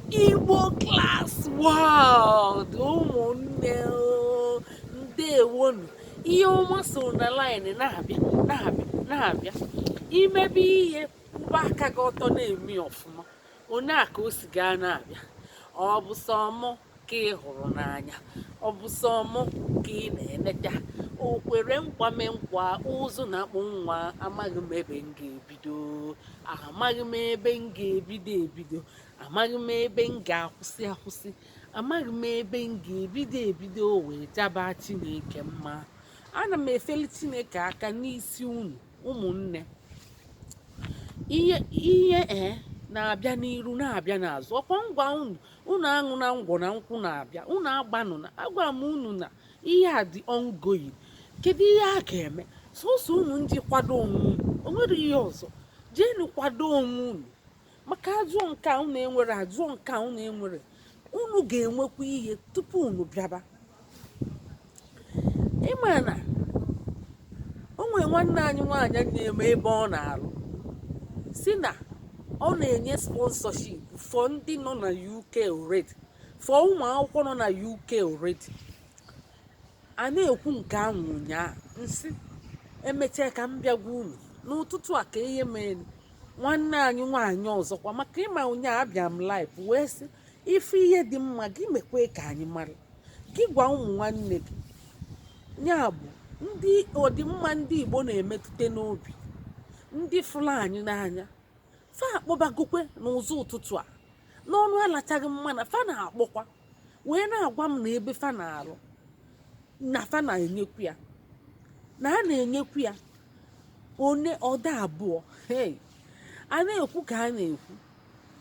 igbo class world ụmụnne ndewonu ihe ọma so na line na-abịa na-abịa imebe ihe mgbe aka gị ọtọ na-eme ọfụma onye a ka o si gaa na-abịa ọ bụ sọ ka ị hụrụ n'anya ọ bụ sọ mụ ka ị na-eneta o kwere nkwa mee nkwa ụzụ na-akpụ nwa amaghị m ebe m ga-ebido amaghị m ebe m ga-ebido ebido amaghị m ebe m ga-akwụsị akwụsị amaghị m ebe m ga-ebido ebido wee jaba chineke mma ana m efeli chineke aka n'isi unu ụmụnne ihe e na-abịa n'iru na-abịa n'azụ ọkwa m gwa unu unu aṅụna ngwọ na nkwụ na-abịa unu agbanụ na agwa m unu na ihe a dị ongoing kedu ihe a ga-eme sọsọ unu ije kwado onwe unu o nwere ihe ọzọ jeenu kwado onwe unu maka ajụọ nke a unu enwere ajụọ nke a unu enwere unu ga-enwekwa ihe tupu unu bịaba ị ma na o nwere nwanne anyị nwaanyị na-eme ebe ọ na-alụ sị na ọ na-enye sponsorship for ndị nọ na UK already for ụmụ akwụkwọ nọ na UK already a na-ekwu nke ahụ ụnyaahụ m sị emechaa ka m bịa gwa unu n'ụtụtụ a ka ihe mere nwanne anyị nwaanyị ọzọkwa maka ị ma ụnyaahụ abịa m live wee sị ị fụ ihe dị mma gị mekwee ka anyị mara gị gwa ụmụ nwanne gị ya bụ ndị ọdịmma ndị igbo na-emetụta n'obi ndị fụrụ anyị n'anya fa akpọbagokwe n'ụzọ ụtụtụ a n'ọnụ alachaghị mma na fa na-akpọkwa wee na-agwa m na ebe fa na-alụ na fa na-enyekwu ya na a na-enyekwu ya onye ọda abụọ hei a na-ekwu ka a na-ekwu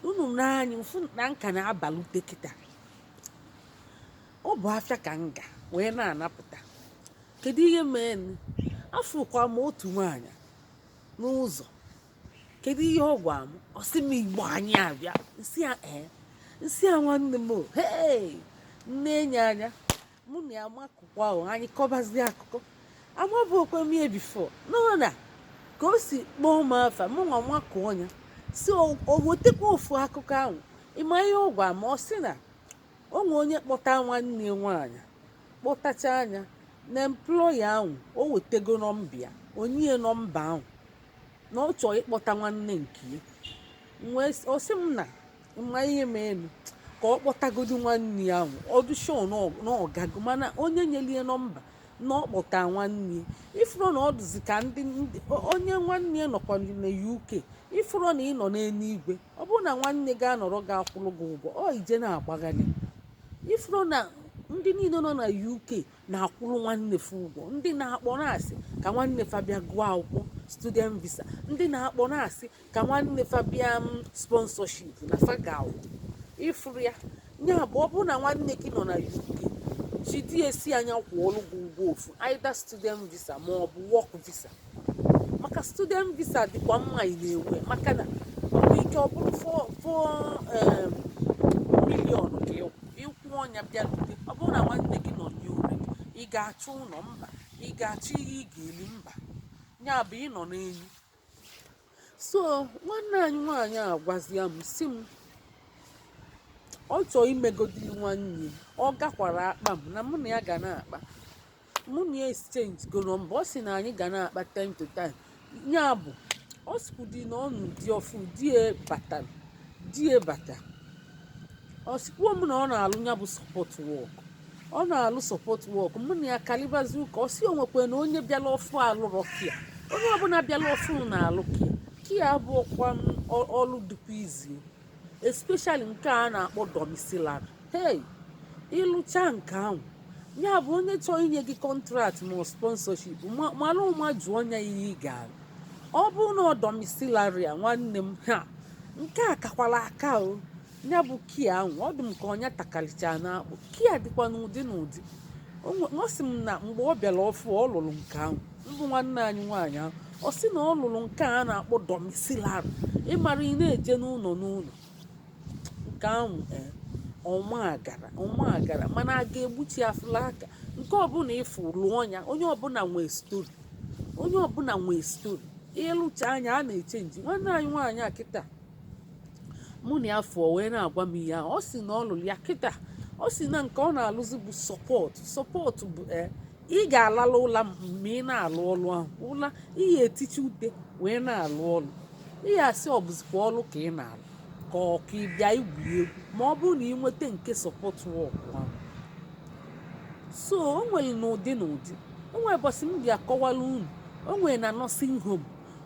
unu nee anya fụ na m ka na-abalute kịta ọ bụ afịa ka m ga wee na-anapụta kedu ihe mee nụ? afụkwa m otu nwaanyị n'ụzọ kedu ihe ọ gwa m ọ sị m igbo anyị abịa m sị ya ee m sị ya nwanne m o hei m nenye anya mụ na ya makụkwa ahụ anyị kọbazie akụkọ amabụokwe m ya before mana ka o si kpọọ m afa mụ nwa makụọ ya sị o wetekwa ofu akụkọ ahụ ị ma ihe ọ gwa m ọ sị na o nwe onye kpọta nwanne nwaanyị kpọtachaa ya na employer ahụ o wetego nọmba ya o nye nọmba ahụ na ọ chọọ ịkpọta nwanne nke ya ọ sị m na mma ihe melu ka ọ kpọtagodu nwanne ya ahụ ọ dị sure na ọ gago mana onye nyelie nọmba na ọ kpọta nwanne ya ị fụrụ na ọ dịzi ka ndị onye nwanne ya nọkwa na UK ị fụrụ na ị nọ n'eluigwe ọ bụrụ na nwanne gị anọrọ gị akwụrụ gị ụgwọ ọ ị je na-agbagharị ị fụrụ na ndị niile nọ na UK na-akwụrụ nwanne fa ụgwọ ndị na-akpọ na-asị ka nwanne fa bịa gụọ akwụkwọ student visa ndị na-akpọ na-asị ka nwanne fa bịa sponsorship na fa ga-akwụ ị fụrụ ya ya bụ ọ bụrụ na nwanne gị nọ na UK jidesie nya kwụọrụ gị ụgwọ ofu either student visa ma ọ bụ work visa maka student visa dịkwa mma ị na-ewe maka na o nwe ike ọ bụrụ four four em, million ka ị- ị kwụọ nya bịalute ọ bụrụ na nwanne gị nọ n'ure ị ga-achọ ụlọ mba ị ga-achọ ihe ị ga-eli mba ya bụ ị nọ n'elu so nwanne anyị nwaanyị a gwazia m sị m ọ chọọ imegodiri nwanne ọ gakwara akpa m na mụ na ya ga na-akpa mụ na ya exchange go nọmba ọ sị na anyị ga na-akpa time to time ya bụ ọ sịkwudi na ọ nụ di ọfụ di ya bata di ya bata ọ sịkwuo m na ọ na-alụ ya bụ support work ọ na-alụ support work mụ na ya kalibazi ụka ọ sị o nwekwe na onye bịala ọfụ alụrọ care onye ọbụla bịala ọfụ na-alụ care care abụrọkwa m ọ- ọlụ dịkwa easy especially nke a na-akpọ domiciliary hey ị lụcha nke ahụ ya bụ onye chọọ inye gị contract ma ọ sponsorship ma- mara ụma jụọ ya ihe ị ga-alụ ọ bụrụ na ọ domiciliary a nwanne m ha nke a kakwala aka o ya bụ care ahụ ọ dị m ka ọ nya takalịchara n'akpụ care dịkwa n'ụdị n'ụdị O nwe- ọ sị m na mgbe ọ bịara ọfụ ọ lụrụ nke ahụ mbụ nwanne anyị nwaanyị ahụ ọ sị na ọ lụrụ nke a na-akpọ domiciliary ị mara ị na-eje n'ụlọ n'ụlọ nke ahụ ee, ọma agara ọma agara mana a ga-egbuchi afụla aka nke ọbụla ị fụ lụọ ya onye ọbụla nwee story onye ọbụla nwee story ị lụcha anya a na-eche nji nwanne anyị nwaanyị a kịta mụ na ya fụọ wee na-agwa m ihe ahụ ọ sị na ọ lụrụ ya kịta ọ sị na nke ọ na-alụzi bụ support support bụ ee ị ga-alalụ ụla ma ị na-alụ ọlụ ahụ ụla ị ya-etichi ute wee na-alụ ọlụ ị ya-asị ọ bụzikwa ọlụ ka ị na-alụ ka ọ ka ị bịa igwu egwu ma ọ bụrụ na ị nweta nke support work ahụ so o nwere n'ụdị n'ụdị o nwere ụbọchị m bịa kọwara unu o nwere na nursing home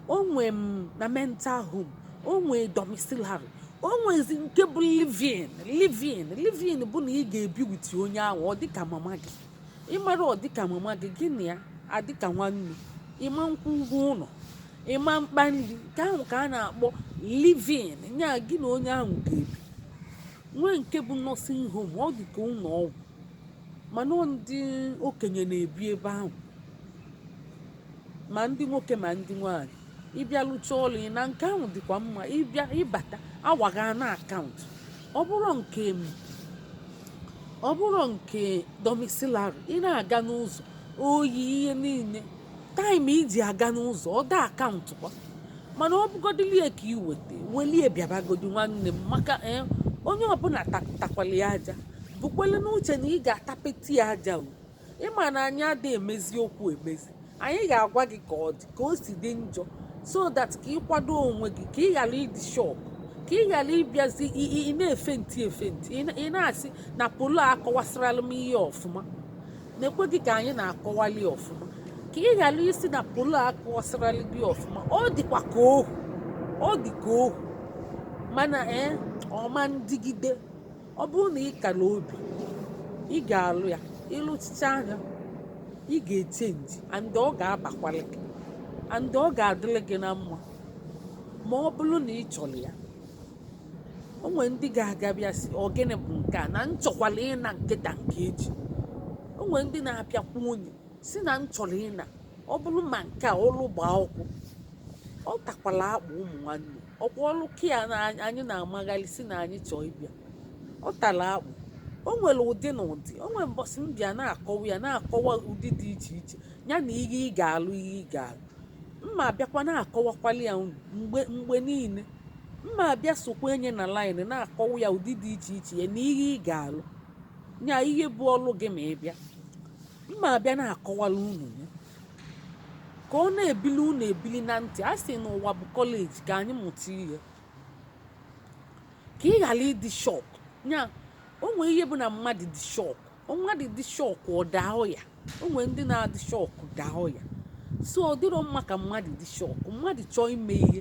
o nwere na mental home o nwere domiciliary o nwezi nke bụ livin livin livin bụ na ị ga-ebi witi onye ahụ ọ dịka mama gị ị mara ọ dịka mama gị gị na ya adịka nwanne ị ma nkwụ ụgwọ ụnọ ị ma mkpa nri nke ahụ ka a na-akpọ livin nya gị na onye ahụ ga-ebi nwee nke bụ nursing home ọ dị ka ụnọ ọgwụ mana ndị okenye na-ebi ebe ahụ ma ndị nwoke ma ndị nwaanyị ị bịa lụcha ọlụ ị naa nke ahụ dịkwa mma ị bịa ị bata awa gị a na-akaụntụ ọ bụrọ nke m ọ bụrọ nke domiciliary ị na-aga n'ụzọ oyi ihe niile taịm i ji aga n'ụzọ ọ da-akaụntụkwa mana ọ bụgodilie ka ị weta welie bịabagodi nwanne m maka eh, onye ọbụla ta- takwali aja bukwele n'uche na ị ga-atapeti ya aja o ị ma na anyị ada emezi okwu emezi anyị ga-agwa gị ka ọ dị ka o si dị njọ so that ka ị kwado onwe gị ka ị ghara ịdị shọk ka ị ghara ịbịazi i- i- ị na-efenti efenti ị na- ị na-asị na polo akọwasịrala m ihe ọfụma na-ekwe gị ka anyị na-akọwali ọfụma ka ị ghara ịsị na polo akọwasịrala gị ọfụma ọ dịkwa ka ohu ọ dị ka ohu mana ee ọ ma ndịgide ọ bụrụ na ị kara obi ị ga-alụ ya ị lụchichaa nya ị ga-echenji and ọ ga-abakwalị gị and ọ ga-adịlị gị na mma ma ọ bụrụ na ị chọrọ ya o nwere ndị ga-aga bịa sị ọ gịnị bụ nke a na m chọkwala ịna nke taa nke echi o nwere ndị na-apịakwa unyi sị na m chọrọ ịna ọ bụrụ ma nke a ọlụ gbaa ọkụ ọ takwala akpụ ụmụ nwanne ọ kwa ọrụ care na anyị na-amagharị sị na anyị chọọ ịbịa ọ tara akpụ o nwere ụdị na ụdị o nwere mbọsị m bịa na-akọwa ya na-akọwa ụdị dị iche iche ya na ihe ị ga-alụ ihe ị ga-alụ m ma-abịakwa na-akọwakwali ya unu mgbe mgbe niile m ma-abịa sokwa nya na laịnị na-akọwa ya ụdị dị iche iche ya na ihe ị ga-alụ ya ihe bụ ọrụ gị ma ị bịa m ma-abịa na-akọwala unu ya Ka ọ na-ebili unu ebili na ntị, a sị na ụwa bụ kọleji ka anyị mụta ihe ka ị ghara ịdị shọk ya o nwee ihe bụ na mmadụ dị shọk mmadụ dị shọk ọ daa ọya o nwere ndị na-adị shọk daa ọya so ọ dịrọ mma ka mmadụ dị shọk mmadụ chọọ ime ihe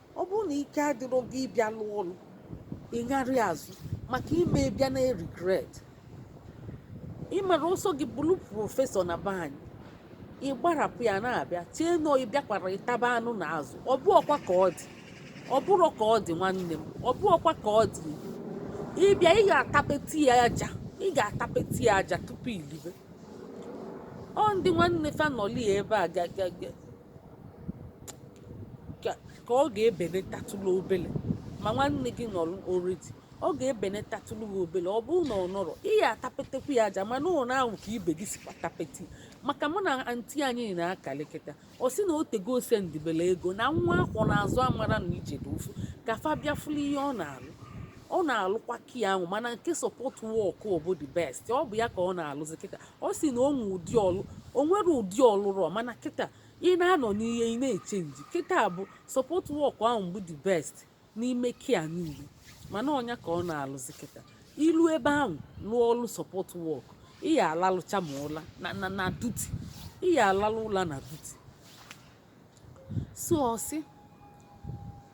ọ bụrụ na ike adịrọ gị ịbịa lụọ ọlụ ịgharị azụ maka i mee bịa na-eregret ị mara ọ sọ gị bụrụ prọfesọ na be anyị ị gbarapụ ya na-abịa chee na ị bịakwara ịtaba anụ na azụ ọ bụrọkwa ka ọ dị ọ bụrọ ka ọ dị nwanne m ọ bụrọkwa ka ọ dị ị bịa ị ga-atapeti ya aja ị ga-atapeti ya aja tupu i libe ọ ndị nwanne fa nọli ebe a ka ọ ga-ebenetatụlụ obele ma nwanne gị nọrọ oredi ọ ga-ebenetatụlụ gị obele ọ bụrụ na ọ nọrọ ị ya atapetekwu ya aja mana ụlọ ahụ ka ibe gị sikwa tapete maka mụ na anti anyị na-akalị kịta ọ sị na o tego o sendịbelu ego na nwa a kwọ n'azụ amara na ije dị ụfụ ka fa bịa fụlụ ihe ọ na-alụ ọ na-alụkwa kia ahụ mana nke sọpọt wọk bụ the best ọ bụ ya ka ọ na-alụzi kịta ọ sị na o nwe ụdị ọlụ o nwere ụdị ọ lụrụ mana kịta ị na-anọ n'ihe ị na-echenji kịta bụ sọpọt wọk ahụ bụ the best n'ime kia niile mana ọ nya ka ọ na-alụzi kịta i lu ebe ahụ lụọ ọlụ sọpọt wọk ị ya alalụcha ma ụla na duti ị ya alalụ ụla na duti so ọ sị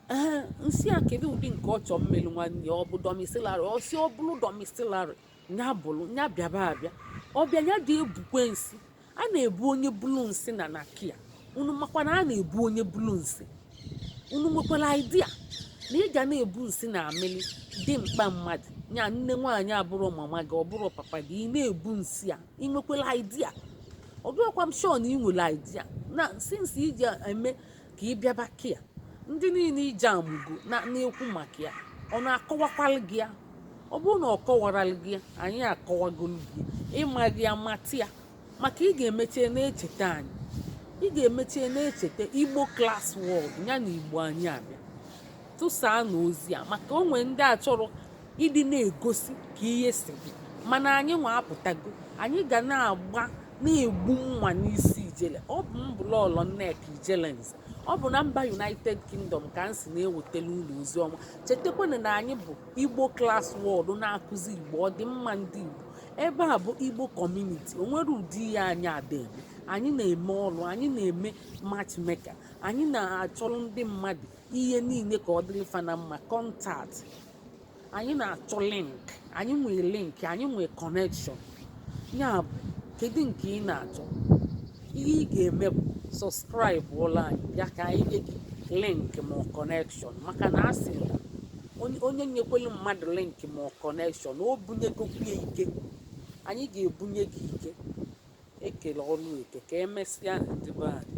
ee m sị ya kedu ụdị nke ọ chọọ m melu nwanne ọ bụ dọmisilari ọ sị ọ bụrụ dọmisilari ya bụrụ ya bịaba abịa ọ bịa ya dị ebukwe nsị a na-ebu onye bulu nsị na na kia unu makwa na a na-ebu onye bulu nsị unu nwekwara idea na ị ga na-ebu nsị na amịlị dimkpa mmadụ ya nne nwaanyị abụrọ mama gị ọ bụrọ papa gị ị na-ebu nsị a ị nwekwara idea ọ dịrọkwa m sure na ị nwere idea na since i ji eme ka ị bịaba kia ndị niile ije amụgo na-ekwu maka ya ọ na-akọwakwalụ gị ya ọ bụrụ na ọ kọwaralụ gị ya anyị akọwagolu gị ya ị maghị ya mata ya maka ị ga-emeche na-echeta anyị ị ga-emeche na-echeta igbo klas wọd ya na igbo anyị abịa tụsaa na ozi a maka o nwere ndị achọrọ ịdị na-egosi ka ihe si dị mana anyị nwa apụtago anyị ga na-agba na-egbu mma n'isi ijele ọ bụ m bụ lọọlọ nneka ijelenze ọ bụ na mba united kingdom ka m si na-ewetara unu ozi ọma chetakwana na anyị bụ igbo klas wọd na-akụzi igbo ọdịmma ndị igbo ebe a bụ igbo kọmuniti o nwere ụdị ihe anyị ada eme anyị na-eme ọrụ anyị na-eme matchmaker anyị na-achọrọ ndị mmadụ ihe niile ka ọ dịrị fa na mma kọntat anyị na-achọ link anyị nwee link anyị nwee kọnekshọn ya bụ kedu nke ị na-achọ ihe ị ga-eme bụ sọskraịbụọlụ anyị bịa ka anyị nye gị link ma kọnekshọn maka na a sị na onye nyekwelu mmadụ link ma kọnekshọn o bunyegokwu ya ike anyị ga-ebunye gị ike e kele ọrụ eke ka emesịa ndị be anyị